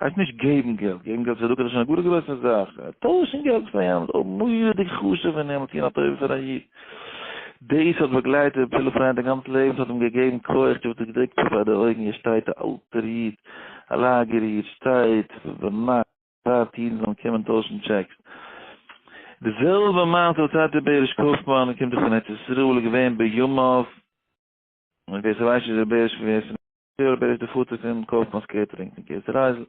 הייסט נישט געבן געלט, געבן געלט צדקה איז שוין א גאר גרויסע זאך, טוישן געלט פאר יענעם איז אויך מורא'דיג חשוב און נעמט אהן א טובה פאר א איד, דאס האט באגלייט ר' פיליפ ריין די גאנצע לעבן, ס'האט אים געגעבן כח, דו האסט דאס געדרוקט פאר די אויגן, יעצט שטייט א אלטער איד, א לאגער איד, שטייט ביינאכט ווארט אידן זאלן קומען טוישן טשעקס, די זעלבע מעשה האט טאטע בעריש קויפמאן, קומט דאך פון ארץ ישראל, איז געווען בימיו, און ווער ס'ווייסט נישט דער בעריש פון ווער ס'נעמט דער בעריש איז דער פאטער פון קאופמאנ'ס קעטערינג פון קיסר רייזל.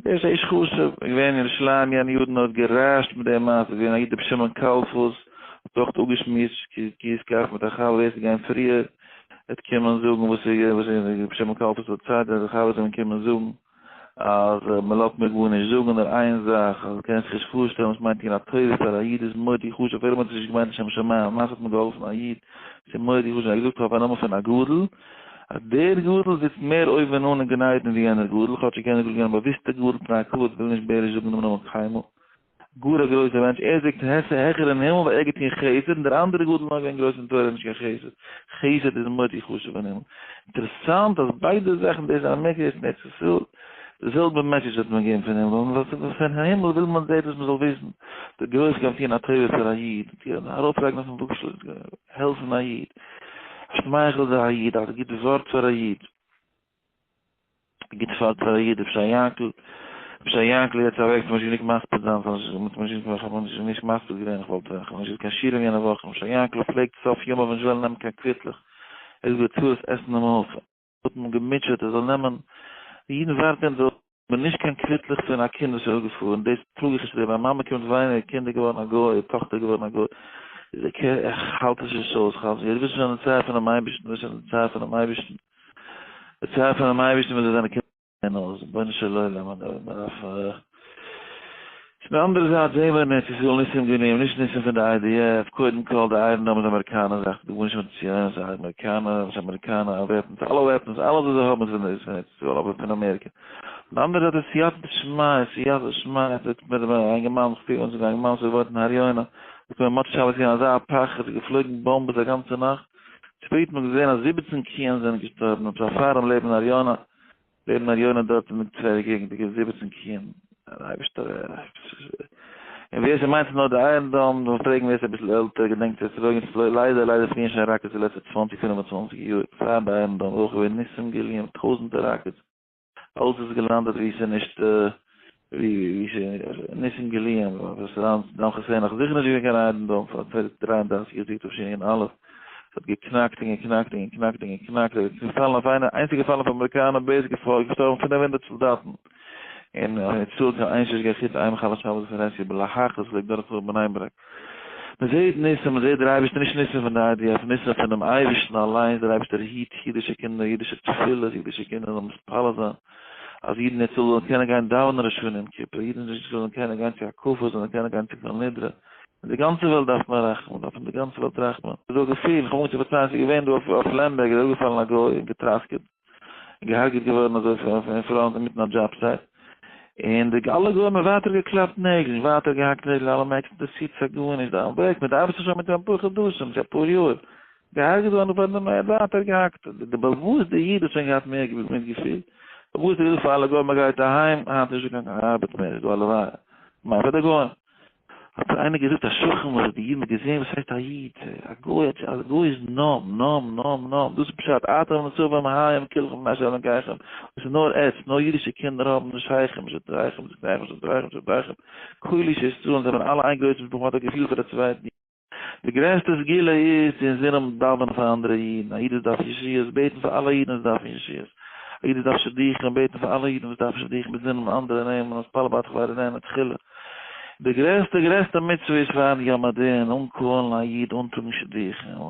בעריש א איש חשוב, איז געווען אין ירושלים יענע יארן און האט גע'רעש'ט מיט דעם מעשה, איז געווען א איד רבי שמעון קאלפוס, האט אויך אפגעשמועסט קיש קח מיט א חבר ווער ס'איז געווען פריער וועט קומען זאגן וואס רבי שמעון קאלפוס האט געזאגט, די חבר'טע זאלן קומען זאגן. אז מען לאזט מיר גארנישט זאגן נאר איין זאך אז קען זיך נישט פארשטעלן וואס מיינט טון א טובה פאר א איד איז מאוד די חשוב אפילו מען האט עס נישט געמיינט לשם שמים למעשה האט מען געהאלפן א איד ס'איז מאוד די חשוב ער האט געזאגט אויף א נאמען פון א גדול אז דער גדול זיצט מער אויבן אן אין גן עדן ווי יענער גדול כאטשיג יענער גדול איז געווען א באוויסטע גדול פני הכבוד וויל נישט בעריש זאגן דעם נאמען קיינמאל. גאר א גרויסע מענטש, ער זאגט העכער אין הימל ווייל ער האט געטון חסד, און דער אנדערע גאט איז נאר געווען גרויס אין תורה נישט קיין חסד, חסד איז מאר די חשוב אין הימל, אינטערעסאנט אז ביידע זאכן דאס אין אמעריקע דאס אין ארץ ישראל, די זעלבע מעסעדזש וועט מען געבן פון הימל, און פון הימל וויל מען זעט אז מען זאל וויסן די גרויס קען טון א טובה פאר א איד, ארויף לייגן אויפן וואגשאל, העלפן א איד, שמייכלט זיי א איד, א גוט ווארט פאר א איד. גוט פאר די איד רבי שי יענקל, רבי שי יענקל איז יעצט אוועק איך האב נישט גענוג מספיד זיין פאר איך האב נישט גענוג איך האב נישט נישט מספיד געווען איך וואלט איך האב נישט געהאט קיין שיעורים יענע וואך רבי שי יענקל פלעגט סוף ימיו נישט וועלן נעמען קיין קוויטלעך ער האט געהאט צרות עסן און מנוחה האט מען געמוטשעט ער זאל נעמען די אידן ווארטען דארט בין נישט קיין קוויטלעך פון א קינד וואס איז אפגעפארן, דאס טראג איך נישט, מיין מאמע קומט וויינען איר קינד איז געווארן א גוי, איר טאכטער איז געווארן א גוי, איז אקעי, איך האלט עס נישט אויס, כ'האלט נישט, דאס איז שוין די צייט פונעם אייבערשטן, דאס איז די צייט פונעם אייבערשטן, די צייט פונעם אייבערשטן ווען זיי זענען קינדער זעען אויס, רבונו של עולם, מען דארף פון די אנדערע זייט זעהן מיר אין ארץ ישראל ניסים גענומען, נישט ניסים פון די איי די עף, קודם כל די איירן דאום איז אמעריקאנער זאך, ס'איז דא גארנישט מיט ציונים, ס'איז א אמעריקאנע, ס'איז אמעריקאנע וועפנס, אלע וועפנס, אלעס וואס זיי האבן איז פון ארץ ישראל, אבער פון אמעריקע. פון די אנדערע זייט איז סייעתא שמיא, סייעתא שמיא, עס וועט מיט א יונגער מאן, איך פיל ווען ס'איז א יונגער מאן וואס וואוינט אין הר יונה, זאגט מיר מוצש ק האב איך געזעהן אזא פחד, ס'איז געפלויגן באמבעס א גאנצע נאכט, שפעט האט מען געזעהן אז זיבעצן קיען זענען געשטארבן, און פאר פאר'ן לעבן אין הר יונה, ווערן א יונה דארט אין די צוויי געגנדיגע זיבעצן קיען, און אייבערשטער ער. און ווער ס'מיינט ס'איז נאר די אייערן דאם, זאל פרעגן ווער ס'איז אביסל עלטער, געדענקט ווער ס'איז אויגן פלוי, ליידער ליידער פליען שוין ראקעטס די לעצטע צוואנציג פינף און צוואנציג יאר, פאר די אייערן דאם אויך ווערן ניסים געליען, טויזענטער ראקעטס, אלס איז געלאנדעט ווי ס'איז נישט ווי ווי ש נישט אין גליון און וואס סאונדס דאן כסען נאך זיכער נישט געווען קיין ריידן דאן פאר צוויי דריי און דרייסיג יאר זיכט אפשי אין אלף ס'האט געקנאקט און געקנאקט און געקנאקט און געקנאקט ער איז געפאלן אויף איינע איינס איז געפאלן אויף אמעריקאנער בעיס געפאלן געשטארבן פֿינף הונדערט סאלדאטן און האט נישט צאלט קיין איין שושקע חוץ איין מחלל שבת וואס ער עסט יו ב להכ וואס לייגט דורך חורבן איינברעך מען זעהט ניסים מען זעהט דער אייבערשטער נישט ניסים פון די איי די עף ניסים פונעם אייבערשטן אליינס דער אייבערשטער היט אידישע קינדער אידישע תפילות אידישע קינדער זאלן מתפלל זיין אז אידן דערצו זאלן קענען גיין דאווענען ראשון יום כיפור, אידן דערצו זאלן קענען גיין צו הקפות, זאלן קענען גיין צו כל נדרי, אין די גאנצע וועלט דארף מען רחמען, דארף אין די גאנצע וועלט רחמען, איז דא געפיל, איך האב אנגעהויבן צו פארציילן, ס'איז געווען דא אויף לעמבערג איז אראפגעפאלן א גוי און געטראסקעט, און געהארגעט געווארן אזוי אין פראנט אינמיטן א דזשאב סייט, און די אלע גוים האבן ווייטער געקלאפט נעגל, און ווייטער געהאקט נעגל, אלע מעקסן, דאס ציט זיך גארנישט, דיין וועג, מען דארף זיך שוין מיט דעם אפאר חדשים, צו אפאר יאר. געהארגעט געווארן און פארן דעם עדה האט ער געהאקט די בעל וואס די איד האט שוין געהאט מער געוויס מיטגעפיל און וואס ער האט געזאגט פאר אלע גוים ער גייט אהיים היינט איז נישטא קיין ארבעט מער איז דא הלוואי מיין פאר די גוים האט זיך איינער געזאגט א שכן וואס האט די אידן געזען וואס הייסט א איד א גוי האט א גוי איז נאם נאם נאם נאם דאס איז פשט אתם נצובים היים כולכם בני אשר על ענקיכם דאס איז נאר עץ נאר אידישע קינדער האבן נישט שייכים נישט דרייכם נישט דרייכם נישט דרייכם נישט דרייכם כל איש ישראל זענען אלע איין גרויס משפחה מען האט א געפיל פאר די צווייטן די גרעסטע סגולה איז צו אינזינען דאווענען פאר אנדערע אידן, א איד וואס דארף ישועות, בעטן פאר אלע אידן וואס דארפן ישועות, א איד וואס דארף שידוכים, בעטן פאר אלע אידן וואס דארפן שידוכים, מיט זינען אנדערע נעמען, מתפלל ביי תחבורה נעמען תחילה. די גרעסטע גרעסטע מצוה איז פארן יום הדין אנקאלן א איד אנטראגן שידוכים.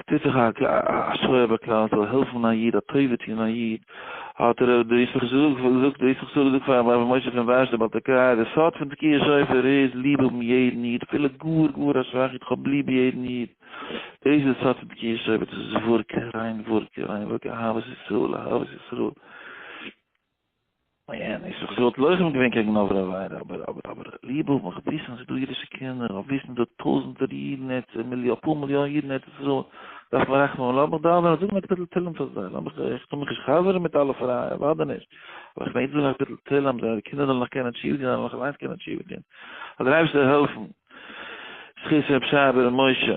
ס'טוט זיך א שואה ביי כלל ישראל, העלפן א איד, א טובה טון א איד, האט ר' יששכר זאגט פאר רבי משה פון ווארשע דער בעל תקעא, די סוד פון תקיעת שופר איז ליב האבן יעדן איד, אפילו גאר גאר א שוואכע איד, כ'האב ליב יעדן איד, דאס איז די סוד פון תקיעת שופר, דאס איז וואורקע, ריין וואורקע, ריין וואורקע, אהבת ישראל, אהבת ישראל. און זי וואלט לוחם געווען קעגן עוברי עבירה, אבער, אבער, אבער, ליבע האט מיך וויסן ס'איז דא אידישע קינדער, אויף וויסן דא טויזנטער אידן ארץ, אפאר מיליאן אידן ארץ ישראל, דארף מען רחמים האבן, לאמיך דאווענען, זאגן א קפיטל תהלים פאר זיי, לאמיך, איך טו מיך נישט חזר'ן מיט אלע פרייע, אוודאי נישט, אבער איך מעג זאגן א קפיטל תהלים, זייערע קינדער זאלן נאך קענען תשובה טון, זיי זאלן נאך אליינס קענען תשובה טון, זאל דער אייבערשטער העלפן, זכות ר' שי ב ר משה.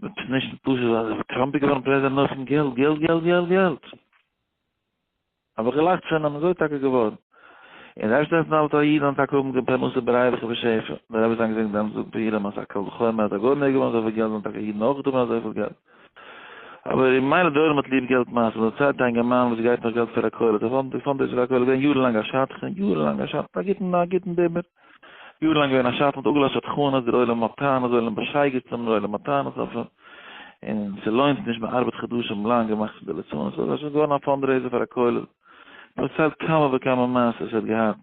מען טוט נישט די פשט אז ווען טראמפ איז געווארן פרעזידענט נאכן געלט געלט געלט געלט געלט האב איך געלאכט פון אים אזוי טאקע געווארן און ר' שטעפן אלטע א איד אן טאקע האבן געהאט פרנסה ברייווח ובשפע דער רבי זיין געזעגנט דעמאלטס זאגט פאר אים אז א קל וחומר אז א גוי מעג האבן אזויפיל געלט זאלן טאקע אידן אויך האבן אזויפיל געלט אבער אין מיינע דורות מען האט ליב געלט מאסן און צייט א אינגערמאן וואס געבט נאך געלט פאר א כולל די פאנד די פאנדרעיזער פאר א כולל איז געווען יארן לאנג א שדכן יארן לאנג א שדכן א גוטן א גוטן דעמער. יאר לאנג געווען א שטן האט אפגעלאזט שדכנות דער עולם האט טענות זאל אים באשייגעצט האבן דער עולם האט טענות אויף אים און ס'לוינט נישט מען ארבעט חדשים לאנג און מאכט פון די ליצנות אזוי ס'איז געווארן א פאנדרעיזער פאר א כולל פארציילט כמה וכמה מעשות ער האט געהאט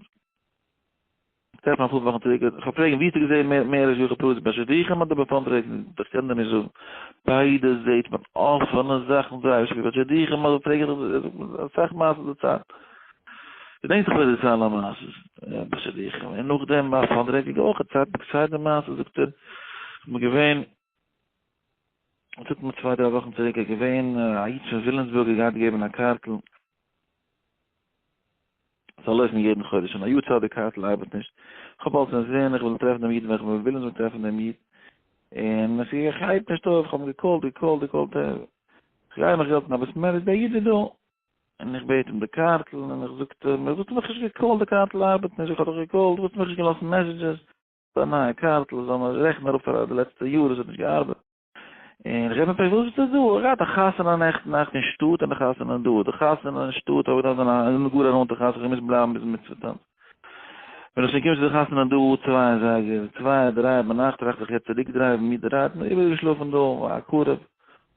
טרעפן אפאר וואכן צוריק איך האב פרעגן ווי האסטו געזען מער מער ר' יוחי פלאס ביי שידוכים אדער ביי פאנדרעיזינג איך קען דיר נישט זאגן ביידע זעהט מען אפענע זאכן זייער שטארק ביי שידוכים אבער פרעג איך דיך אסאך מעשות די צייט געדענק זיך ווער די זיין א מעשה ביי שידוכים און נאכדעם ביי פאר דרעקעדיגע אויך צייט ביי צייט די מעשה זאגט ער מיר געווען זאגט מיר צוויי דריי וואכן צוריק ער געווען א איד פון וויליאמסבורג ער גייט געבן א קארטל זאל לויפן יעדן חודש און א יאר צייט די קארטל ארבעט נישט כ'האב אלס נישט זעהן איך וויל טרעפן דעם איד ווען כ'בין וויליאמסבורג טרעפן דעם איד און עס גייט נישט אויף כ'האב געקאלט געקאלט געקאלט איך גיי מיך געלט אבער ס'מער איז דער איד איז דא און איך בעט אים די קארטל, און איך זאגט ער מיר וואס מיך נישט געקאלט די קארטל ארבעט נישט, איך האב דיך געקאלט וואס מיך נישט געלאזט מעסעדזשעס, א נייע קארטל זאל מען רעכענען אראפ פאר די לעצטע יאר עס האט נישט געארבעט, און איך געב אים פרעגן וואס ביסטו דא, ער האט געהאט א חתונה נעכטן נאכט אין שטאט און א חתונה דא, די חתונה אין שטאט האב איך געדארפט זיין א זענען גאר א נאנטע חתונה, איך האב געמוזט בלייבן ביזן מצוה טאנץ, ווען איך שוין קום צו די חתונה דא צוויי אזייגער, צוויי דריי ביינאכט טראכט איך איך וועל צוריק דרייוון מיד ריידן, איבערגעשלאפן דא, א קרוב.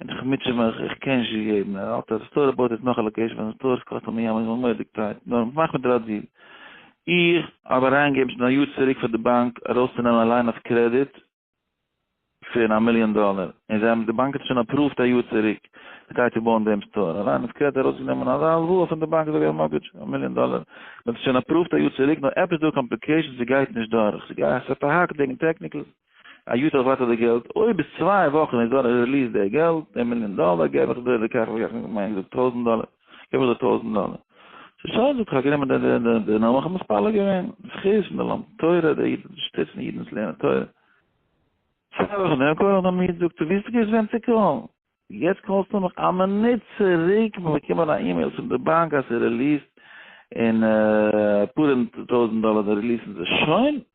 און איך מוטשע מיך, איך קען נישט געגעבן, ער האלט אז די סטאר באויט אויס נאך א לאקעישן פאר די סטאר, עס קאסט אים א ים און מויל די קייט, נאר מאך מיט ראדזיל, איך. האב אריינגעגעבן שוין א יאר צוריק פאר די באנק ארויסצונעמען א ליין אויף קרעדיט פון א מיליאן דאלער, און זיי האבן, די באנק האט עס שוין אפראווט א יאר צוריק, די גייט צו בויען דעם סטאר, א ליין אויף קרעדיט ארויסגענומען אזא הלוואה פון די באנק אזוי ווי א מארטגעדזש, א מיליאן דאלער, מען האט עס שוין אפראווט א יאר צוריק, נאר עפעס דא קאמפליקעישאנס, ס'גייט נישט דורך, ס'גייט, ס'האט א האק וועגן טעקניקלס. א יו ט איך ווארט אויף די געלט, אויב ביז צוויי וואכן איז דא א ריליס די געלט, די מיליאן דאלער, געב איך דיר די כך וכך, איך מיין געזאגט טויזנט דאלער, געב איך דיר טויזנט דאלער. ס'שוין זאג איך האב גענומען די נאמען איך האב מתפלל געווען, זכות פון די לומד תורה, די אידן זאלן שטיצן אידן וואס לערנען תורה. צוויי וואכן דערנאך קאל איך דעם איד זאגט ער ווי האסטו געוואוסט וועם צו קאלן? יעצט קאלסטו מיך? א מינוט צוריק האב איך באקומען א אימעיל פון די באנק אז ס'ריליסט אין אפאר טויזנט דאלער די ריליסן זיי שוין,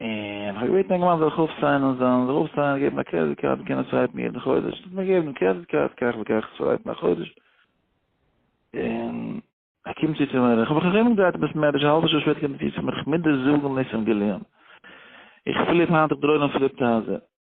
און כ'האב געבעטן יונגערמאן זאל זיך אויפסיינען און זיין זיך אויפסיינען און געבן א קרעדיט קארד און קענען עס סווייפן יעדן חודש, עס האט מיר געגעבן דעם קרעדיט קארד כך וכך סווייפן א חודש, און. ער קומט צו צו מיר, כ'האב מיך נאכנישט אומגעדרייט און ביז מער וויש א האלבע שעה שפעטער קומט ער צו צו מיר, כ'מוז דיר זאגן ניסים גליון, איך פליפ היינט איך דראון און פליפ טייזער.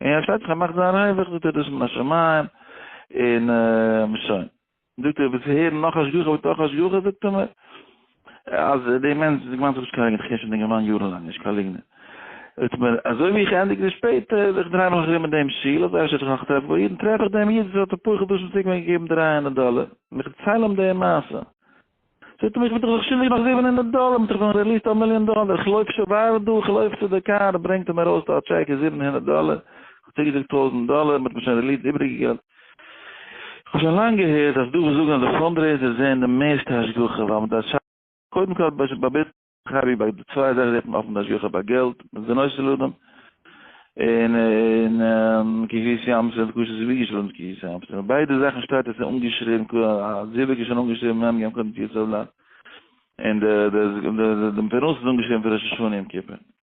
און ער שטייט זיך ער מאכט זיין רווח זאגט ער דאס מן השמים און שוין זאגט ער ווילסט הערן נאך השגחה בתוך השגחה זאגט ער מיר אז די מענטש איז געוואנט זאגסט קארגעט איך שוין געוואנט יארן לאנג נישט קיין ליגנער זאגט מיר אזוי ווי איך ענדיג די שפעטער איך דריי מיך ארום אין דעם שול אזוי אפשר איך נאך טרעף בו אידן טרעף איך דעם איד וואס האט א פוחד השם צוריק מיר געגעבן דרײַ הונדערט דאלער און איך דערצייל אים די מעשה זאגט ער מיר איך וועל דיך שילדיג נאך זיבן הונדערט דאלער, מ'האט דיך דאן רעליסט א מיליאן דאלער, איך לויף שובאל דא, איך לויף צו די קאר, ברענגט ער מיר ארויס דא א טשעק איז זיבן הונדערט דאלער, איך האב צוגעזאגט טויזנט דאלער, מ'האט מיר שוין רעליסט די איבריגע געלט. איך האב שוין לאנג געהערט אז דא וואס זאגן אז די פאנדרעיזערס זעען די מערסטע השגחה ווייל מ'דארף שאפן קודם כל האט באבעט קרי ביי די צוויי זייטן זעט מען אפן די השגחה ביי געלט מיט די נושא לאדם און און קהילת ים סוף קושיא איז ווי געשריבן מיט קהילת ים סוף ביידע זאכן שטייט עס איז אנגעשריבן ק א זיווג איז שוין אנגעשריבן מ' ים קודם טיסלב ל און די די די פרנסה איז אנגעשריבן פון ראש השנה יום כיפור.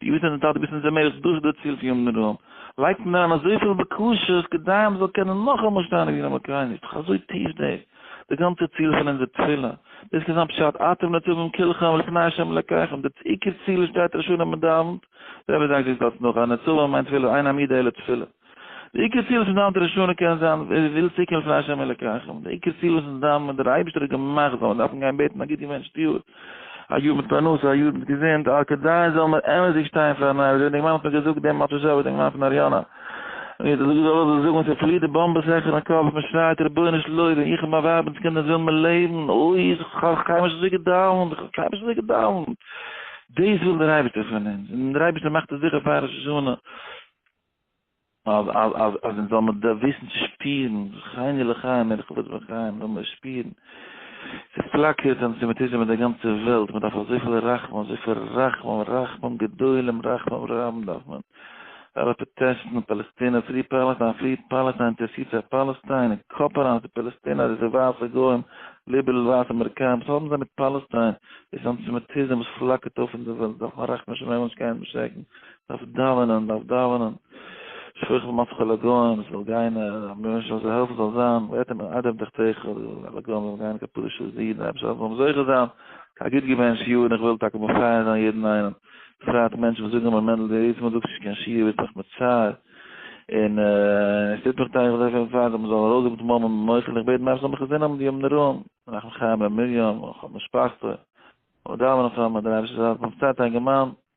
די אידן זענען טאקע ביסן זיי מער דאס איז דער ציל פון יום נראה לייגט מען אריין אזויפיל בקשות כדי מען זאל קענען נאכאמאל שטיין אין יום הכרינו איז דאך אזוי טיף דער דער גאנצער ציל פון אונזער תפילה דאס קען זיין פשט אתם נצבים כלכם לפני השם אלקיכם דער עיקר ציל שטייט רשון אז מען דאווענט דער רבי זאגט דאס דארט נאך אז נצבים מיינט תפילה עינים ידי אל התפילה. די עיקר ציל פון דיין דרשנות קען זיין וויל צוקומען לפני השם אלקיכם, די עיקר ציל וואס דיין וואס דער אייבערשטער האט געמאכט זאל מען דארפן גיין בעטן א גוט געוואונטשט יאר, א יאר מיט פרנסה, א יאר מיט געזונט, א כדי זאל מען אמת'דיג שטיין פארן אייבערשטער, ווי די גמרא האט מיר געזאגט דעם מאטשע זשאווע די גמרא פון אריאנא, ווי די זאגער זאל זאגן ווען ס'פליעט די באמבע זיך אין קאפ און מען שרייט רבונו של עולם איך און מיין ווייב אונז קינדער ווילן מיר לעבן, אוי איך האב קיינמאל נישט אזוי געדאוונט, איך האב קיינמאל נישט אזוי געדאוונט, דאס וויל דער אייבערשטער פון אונז, און דער אייבערשטער מאכט עס זיכער פאר ראש השנה. אז אז אז אז אונז זאל מיר דארף וויסן צו שפירן, חייני לחיים בין איך וואס בין חיים, זאל מיר שפירן. ס'איז פלאקערט אנטיסעמיטיזם אין די גאנצע וועלט, מען דארף אזויפיל רחמים, אזויפיל רחמים, רחמים גדולים, רחמים רבים דארף מען. אלע פראטעסטן און פאלעסטינער, פרי פאלעסטיין, פרי פאלעסטיין, אינטערעסירט זיך פאלעסטיין, און כאפ אריין אז די פאלעסטינער, די ווייסע גוים, ליבעראל ווייסע אמעריקאנער, וואס האבן זיי מיט פאלעסטיין? דאס איז אנטיסעמיטיזם וואס פלאקערט אויף אין די וועלט, דארף מען רחמים שמים אנשטייען און באשרעקן דארף דאווענען, דארף דאווענען, שכח מצחו לגוים, ס'זאל גיין, רבונו של עולם זאל העלפן ס'זאל זיין, ואתם מן עדה בתוכיכם, די לגוים זאלן גיין כפרה של זיד, אייבערשטער אז מ'זאל זוכה זיין, כ'האב גוט געווען שיעור און איך וויל טאקע מפייס זיין יעדן איינעם, בפרט מענטשן וואס זאגן מיר מענדל די עצם אז זאגסט נישט קיין שיעור ביסט מיך מצער, און עס טוט מיך טיי, איך וויל זיך מפייס זיין, מ'זאל ארויסגעבן די מאמע ממוחי, און איך בעט מרחם וחסדים אויף די ימים נוראים, מנחם חיים בן מרים, אויף משפחתו, און דאווענען פאר מיר, דער אייבערשטער זאל העלפן, בפרט א אינגערמאן,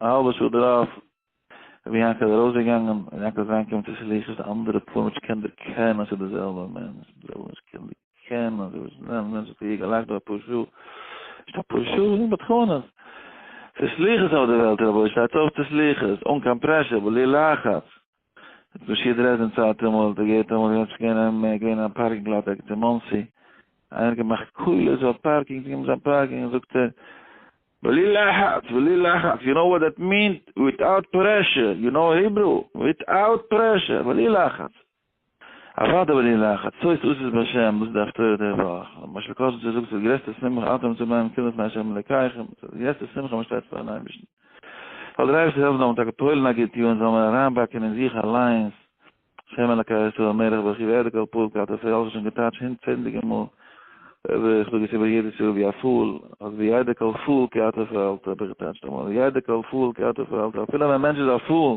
א האלבע שעה דערויף, רבי יענקל איז ארויסגעגאנגען, רבי יענקל איז אריינגעקומען צו שליחות, די אנדערע פאר מענטשן קען דער קען אז ס'איז דער זעלבער מענטש, די זעלבע מענטש קען דער קען אז ער איז דער מענטש, האט ער איר געלאכט דא אפאר שעה, נישט אפאר שעה, זיי זענען בדחנות. ס'איז שליחות אויף די וועלט רבוש ע, שטייטס אויף צו שליחות, אן קיין פרעשור, בלי לחץ. דאס שיעור דרעזדען צייט אמאל האט ער געהערט אמאל איז עפעס געווען אים געווען א פארקינג לאט ערגעץ אין מאנסי איינער האט געמאכט קולות אויף פארקינג זיי געבן זיין פארקינג זאגט ער בלי לחץ בלי לחץ יו נאו וואט דעט מינט וויטאוט פרעשור יו נאו היברו וויטאוט פרעשור בלי לחץ אוודאי וועל איך לאכן, עצות עושות בשם, וואס איז די הפטורה די וואך? למשל קודם צו זאגסטו די גרעסטע שמחה אתם צו בלייבן קרוב לפני השם אלקיכם, ס'איז די גרעסטע שמחה מען שטייט פארן אייבערשטן, זאל דער אייבערשטער העלפן זאל מען טאקע פועל'ן א גוט יאר און זאל מען אריינבאקען אין זיך אליינס, השם אלקי ישראל מלך ברכי ועדה כל פורקא, דאס האב איך שוין געטייטש הונדצענדליגע מאל, איך זאג עס איבער יעדעס יאר ווי א פאל, אז וידע כל פאל כי אתה פעלת האב איך געטייטשט אמאל, ידע כל פאל כי אתה פעלת, אפילו ווען א מענטש איז א פאל,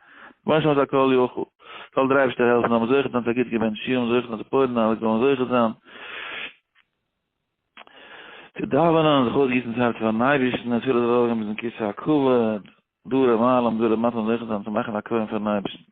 בואש האט הכל יכול. זאל דער אייבערשטער העלפן זיי זאלן זוכה זיין צו א גוט געבענטש שול און זוכה זיין צו פויערן אלע גוים זוכה זיין צו דאווענען, זיך אויסגיסן צו הארץ פארן אייבערשטן, די תפילות זאל ארויפגיין ביזן כסא הכבוד, דורי מעלה און דורי מטה זאלן זוכה זיין צו מאכן א קרבן פארן אייבערשטן.